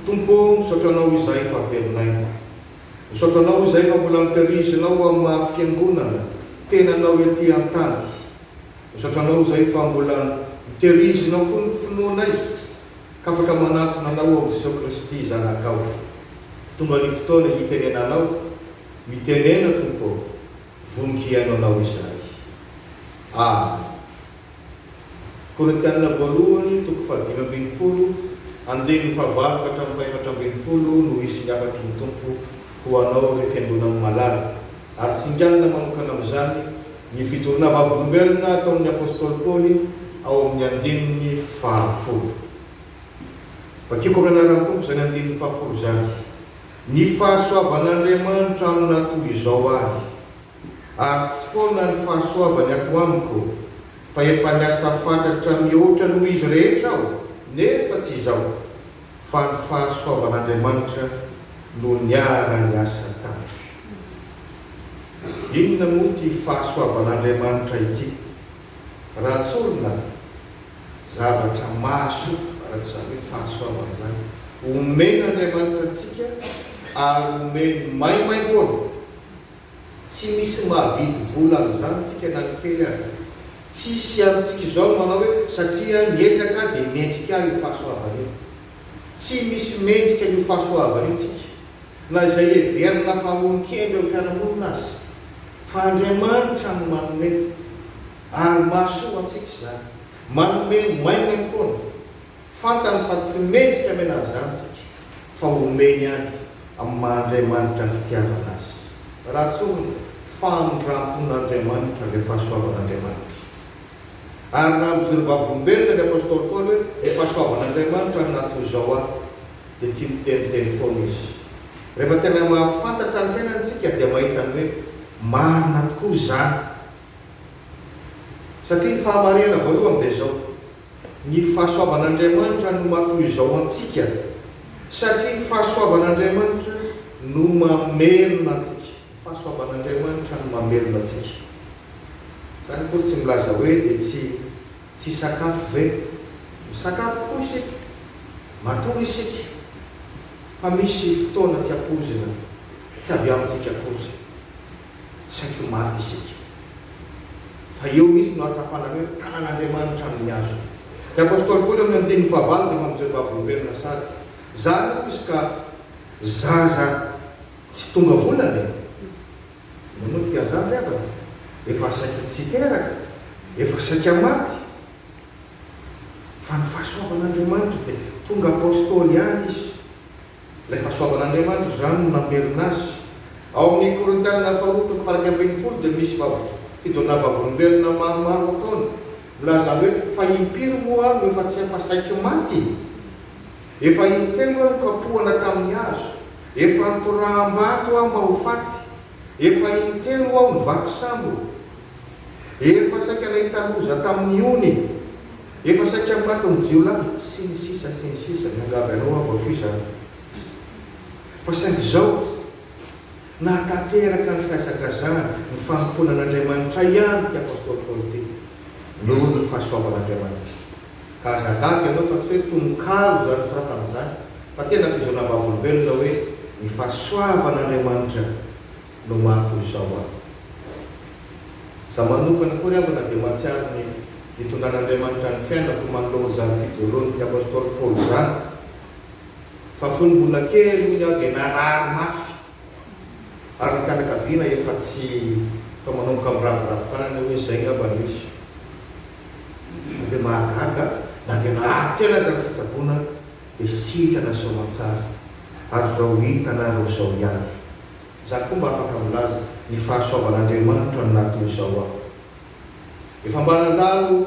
Tompo ô, misaotra Anao izay fa velonay. Misaotra Anao izay fa mbola mitarizinao ho amin'ny maha fiangonana tenanao ety an-tany. Misaotra Anao izay fa mbola miteirizina koa ny finoanay ka afaka manantona Anao ao amin'i Jesosy Kristy Zanakao. Tonga ny fotoana hitenenanao. Mitenena Tompo ô, vonon-kiaino Anao izahay. Amen. Korintiana voalohany, toko fahadimy ambin'ny folo, Andininy fahavalo ka hatramin'ny fahefatra ambin'ny folo no hisy ny hafatry ny Tompo ho anao, ry fiangonan'ny malala, ary singanina manokana amin'izany ny fijoroana vavolombelona ataon'ny apostoly Paoly ao amin'ny andininy fahafolo. Vakiako amin'ny anaran'ny Tompo izany andininy fahafolo izany. Ny fahasoavan'Andriamanitra amina toy izao ahy, ary tsy foana ny fahasoavany ato amiko, fa efa niasa fatratra mihoatra noho izy rehetra aho, nefa tsy izaho, fa ny fahasoavan'Andriamanitra no niara-niasa tamiko. Inona moa ity fahasoavan'Andriamanitra ity? Raha tsorina zavatra mahasoa, araka izany hoe fahasoavana izany, omen'Andriamanitra antsika ary omeny maimaimpoana. Tsy misy mahavidy vola amin'izany tsika na ny kely aza. Tsy hisy amintsika izao ny manao hoe satria aho niezaka aho dia mendrika ahy io fahasoavana io. Tsy misy mendrika an'io fahasoavana io tsika. Na izay heverina fa olon-kemby eo amin'ny fiarahamonina aza, fa Andriamanitra no manome, ary mahasoa antsika izany. Manome maina ihany koa no fantany fa tsy mendrika hamena an'izany isika, fa omeny ihany amin'ny maha-Andriamanitra ny fitiavana azy. Raha tsorina, famindram-pon'Andriamanitra ilay fahasoavan'Andriamanitra. Ary raha mijoro vavolombelona ny apostoly Paoly hoe, Ny fahasoavan'Andriamanitra ary na toy izao aho, dia tsy miteniteny foana izy. Rehefa tena mahafantatra ny fiainany isika dia mahita ny hoe marina tokoa izany. Satria ny fahamarinana voalohany dia izao, ny fahasoavan'Andriamanitra no maha toy izao antsika, satria ny fahasoavan'Andriamanitra no mamelona antsika. Ny fahasoavan'Andriamanitra no mamelona antsika. Izany akory tsy milaza hoe etsy. Tsy sakafo ve? Misakafo tokoa isika, matory isika, fa misy fotoana tsy ampoizina, tsy avy amintsika akory, saiky maty isika. Fa eo mihitsy no ahatsapana ny hoe tanan'Andriamanitra amin'ny hazo. Ny apostoly Paoly amin'ny andininy fahavalo dia mampijery vavolombelona sady zaza hoy izy ka zaza tsy tonga volana e! Manodika an'izany ry havana, efa saika tsy hiteraka, efa saika maty. Fa ny fahasoavan'Andriamanitra dia tonga apostoly ihany izy. Ilay fahasoavan'Andriamanitra izany no namerina azy. Ao amin'ny Korintiana faharoa toko faha-iraika ambin'ny folo dia misy vavolombelona vavolombelona maromaro ataony milaza hoe, Fa impiry moa aho no efa tsy efa saiky maty? Efa intelo aho no kapohana tamin'ny hazo. Efa nitoraham-bato aho mba ho faty, efa intelo aho no vaky sambo, efa saika nahita loza tamin'ny ony, efa saika matin'ny jiolahy, sy ny sisa sy ny sisa Miangavy anao aho vao toy izany fa saingy izao nahatanteraka ny fihazakazahana, ny fanompoana an'Andriamanitra ihany ity Apostoly Paoly ity noho ny fahasoavan'Andriamanitra. Ka aza gaga ianao fa tsy hoe tononkalo izany soratana izany fa tena fizaona vavolombelona hoe ny fahasoavan'Andriamanitra no maha toy izao ahy. Izaho manokana koa ry havana dia mahatsiaro ny nitondran'Andriamanitra ny fiainako manoloana izany fijoroan'ny apostoly Paoly izany. Fa fony mbola kely hono aho dia narary mafy. ary ny fianakaviana efa tsy efa manomboka mirary vatompanana hoe izay angamba no izy fa dia mahagaga na dia naharitra ela aza ny fitsaboana dia sitrana soamantsara ary izao hitanareo izao ihany izaho koa mba afaka milaza ny fahasoavan'Andriamanitra no nahatonga izao aho efa mba nandalo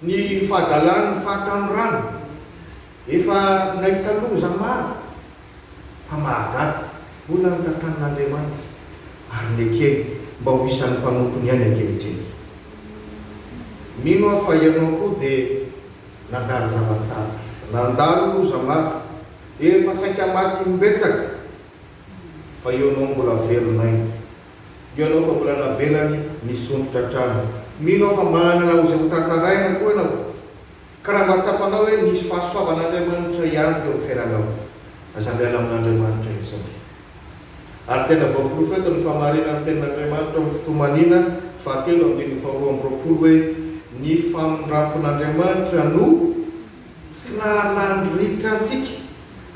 Ny fahadalan'ny fahatanorana efa nahita loza maro fa mahagaga, hoy ny tantanin'Andriamanitra ary nekeny mba ho isan'ny mpanompony ihany ankehitriny. Mino aho fa ianao koa dia nandalo zava-tsarotra, nandalo loza maro, efa saika maty imbetsaka fa eo no mbola velon'aina. Mino anao fa mbola navelany nisondrotra hatrany. Mino aho fa manana ho izay ho tantaraina koa ianao. Ka raha mba tsapanao hoe nisy fahasoavan'Andriamanitra ihany teo amin'ny fiainanao, aza miala amin'Andriamanitra intsony. Ary tena voaporofetin'ny fahamarinan'ny Tenin'Andriamanitra ao amin'ny Fitohanina fahatelo andininy faharoa amby roapolo hoe, Ny famindrampon'Andriamanitra no. Tsy nahalany ritra antsika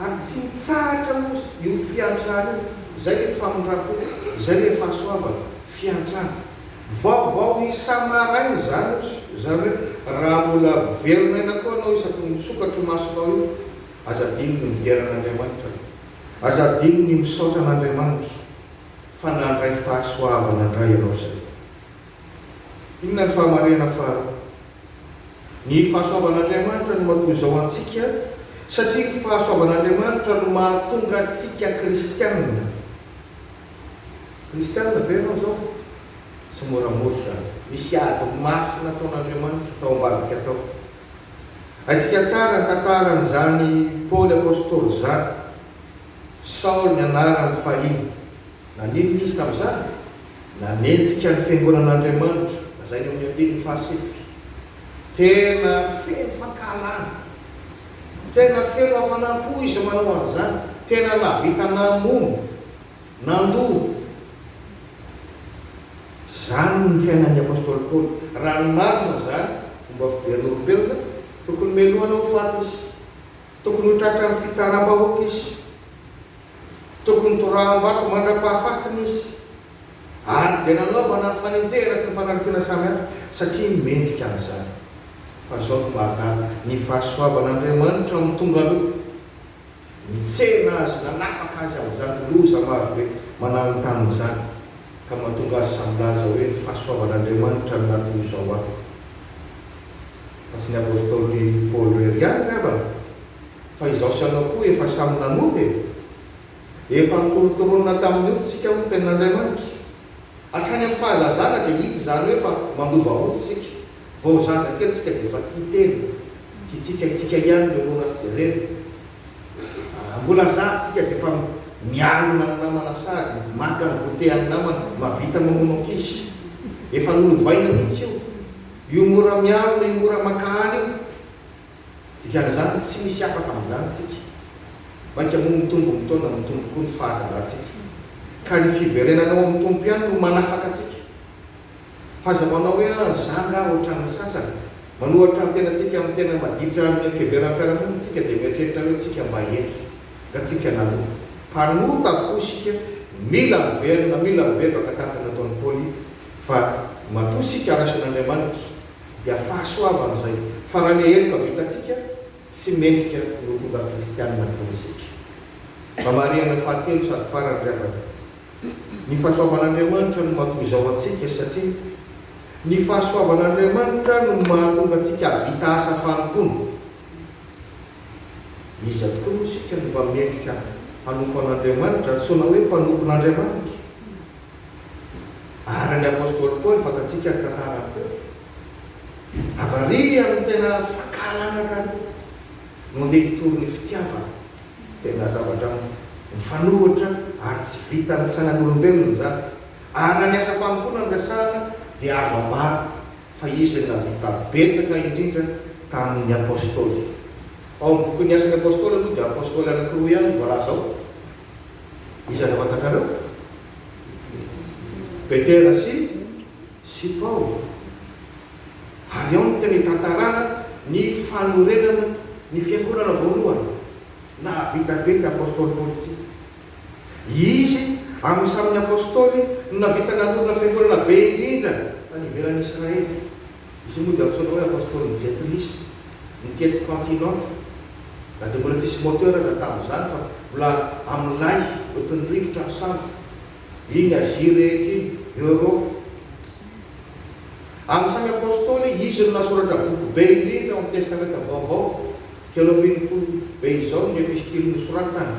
ary tsy nitsahatra moa io fiantrana io, izay ny famindram-po, izay ny fahasoavana, fiantrana. Vaovao isa-maraina izany hozy zareo, raha mbola velona aina koa anao isaky ny misokatra io masonao io, aza adino ny midera an'Andriamanitra, aza adino ny misaotra an'Andriamanitra fa nandray fahasoavana indray ianao izay. Inona ny fahamarinana faharoa? Ny fahasoavan'Andriamanitra no matoa izao antsika, satria ny fahasoavan'Andriamanitra no mahatonga antsika kristiana. Kristiana ve ianao izao? Tsy moramora izany. Misy ady mafy nataon'Andriamanitra tao ambadika tao. Haintsika tsara ny tantaran'izany Paoly apostoly izany. Saoly ny anarany fahiny. Naninona izy tamin'izany? Nanenjika ny fiangonan'Andriamanitra, lazainy amin'ny andininy fahasivy. Tena feno fankahalana, tena feno hafanam-po izy manao an'izany, tena nahavita namono, nandoro. Izany ny fiainan'ny apostoly Paoly. Raha ny marina izany, fomba fijerin'olombelona, tokony melohina ho faty izy, tokony ho tratran'ny fitsaram-bahoaka izy. Tokony toraham-bato mandra-pahafaty ny osy, ary dia nanaovana ny fanenjehana sy ny fanaritsiana samihafa satria mendrika an'izany. Fa izao no marina, ny fahasoavan'Andriamanitra no tonga aloha. Nitsena Azy, nanafaka Azy amin'izany loza marobe mananontanona izany, ka mahatonga azy samy milaza hoe ny fahasoavan'Andriamanitra no mahatonga izao ahy. Fa tsy ny apostoly Paoly irery ihany angamba Fa izaho sy ianao koa efa samy nanompo e! Efa nitorotoronina tamin'ny ody isika hoy ny Tenin'Andriamanitra. Hatrany amin'ny fahazazana dia hita izany hoe efa mandova ody isika. Vao zaza kely isika dia efa tia tena. Tiantsika antsika ihany ny rora sy reny. Raha mbola zaza isika dia efa mialona ny namana sady maka ny goûter an'ny namana, mahavita mamono ankizy. Efa nolovaina mihitsy io. Io mora mialona, io mora mankahala io. Dikan'izany, tsy misy afaka amin'izany tsika. Mainka moa mitombo ny taona, mitombo koa ny fahatarantsika. Ka ny fiverenana ao amin'ny Tompo ihany no manafaka antsika. Fa aza manao hoe, ah, izaho angaha hoatran'ny sasany. Manohatra ny tenantsika amin'ny tena maditra amin'ny fiheveran'ny fiarahamonina isika dia mieritreritra hoe tsika mba hendry, nga tsika nanota. Mpanota avokoa isika, mila miverina, mila mibebaka tahaka ny nataon'i Paoly, fa matoa isika raisin'Andriamanitra, dia fahasoavana izay, fa raha ny heloka vitantsika tsy mendrika no tonga kristianina toy ny setra. Mba marihana ny fahatelo sady farany ry havana. Ny fahasoavan'Andriamanitra no matoa izao antsika satria ny fahasoavan'Andriamanitra no mahatonga antsika hahavita asa fanompoana. Iza tokoa moa isika no mba mendrika hanompo an'Andriamanitra, antsoina hoe mpanompon'Andriamanitra? Ary ny apostoly Paoly, fantatsika ny tantaran'i Petro, avariany tena fankahalana taloha no ndeha nitory ny fitiavana, tena zavatra mifanohitra ary tsy vitan'ny sainan'olombelona izany, ary na ny asa fanompoana no resahana dia azo ambara fa izy no nahavita betsaka indrindra tamin'ny apostoly. Ao amin'ny bokin'ny Asan'ny Apostoly aloha dia apostoly anankiroa ihany no voalaza ao, Iza no fantatrareo? Petera sy sy Paoly. Ary ao no tena itantarana ny fanorenana ny fiangonana voalohany. Nahavita be ny apostoly Paoly ity. Izy amin'ny samy ny apostoly no nahavita nanorina fiangonana be indrindra tany ivelan'i Israely. Izy io moa dia antsoina hoe Apostolin'ny Jetlis, ny tety continente, na dia mbola tsy nisy moteur aza tamin'izany fa mbola amin'ny lay ohatrin'ny rivotra ny sambo. Iny Azia rehetra iny, Europe. Amin'ny samy Apostoly, izy no nasoratra boky be indrindra ao amin'ny Testamenta Vaovao, telo ambin'ny folo be izao ny epistily nosoratany.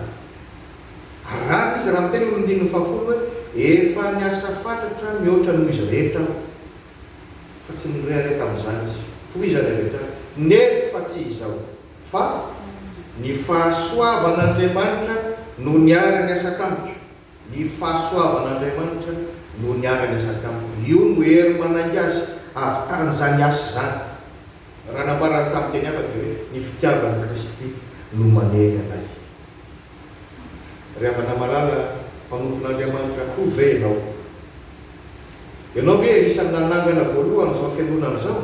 Ary rariny izy raha miteny ao amin'ny andininy fahafolo hoe, Efa niasa fatratra mihoatra noho izy rehetra aho. fa tsy nirehareha tamin'izany izy. Tohizany avy hatrany nefa tsy izao fa Ny fahasoavan'Andriamanitra no niara-niasa tamiko, ny fahasoavan'Andriamanitra no niara-niasa tamiko. Io no hery manainga azy avy tany izany asa izany. Raha nambarany tamin'ny teny hafa dia hoe, Ny fitiavan'i Kristy no manery anay. Ry havana malala, mpanompon'Andriamanitra koa ve ianao? Ianao ve anisan'ny nanangana voalohany izao fiangonana izao?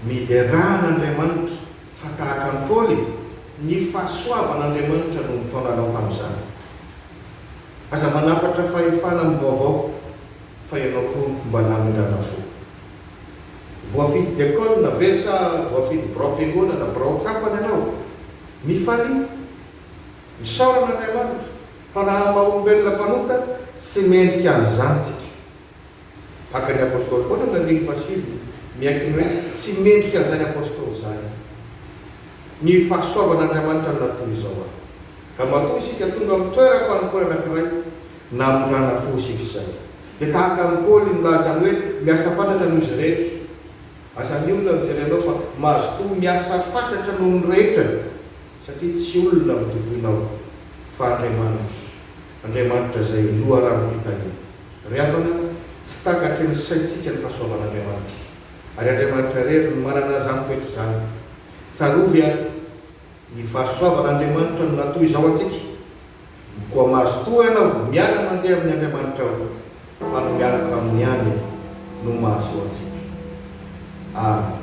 Miderà an'Andriamanitra fa tahaka an'i Paoly, ny fahasoavan'Andriamanitra no nitaona anao tamin'izany. Aza manapatra fahefana amin'ny vaovao fa ianao koa mba namindrana fo. Voafidy diakona ve sa voafidy biraom-piangonana, birao tsapa ny anao? Mifalia. Misaorana Andriamanitra fa raha maha olombelona mpanota tsy mendrika an'izany tsika. Haka ny Apostoly Paoly amin'ny andininy fahasivy miaiky ny hoe tsy mendrika an'izany Apostoly izany. Ny fahasoavan'Andriamanitra no natoy izao ahy. Ka matoa isika tonga amin'ny toeram-panompoana anankiray na amin'ny rana fohy isika izay dia tahaka an'i Paoly nilaza ny hoe miasa fatratra noho izy rehetra. Aza ny olona mijery anao fa mazotoa miasa fatratra noho ny rehetra satria tsy olona no tompoinao fa Andriamanitra, Andriamanitra izay loharanom-pitaniana. Ry havana, tsy takatry ny saintsika ny fahasoavan'Andriamanitra ary Andriamanitra irery no manana izany toetra izany. Tsarovy ary. Ny fahasoavan' Andriamanitra no natoy izao antsika, Koa mazotoa ianao miala mandeha amin' ny Andriamanitrao, fa ny mialoka aminy ihany no mahasoa antsika. Amen.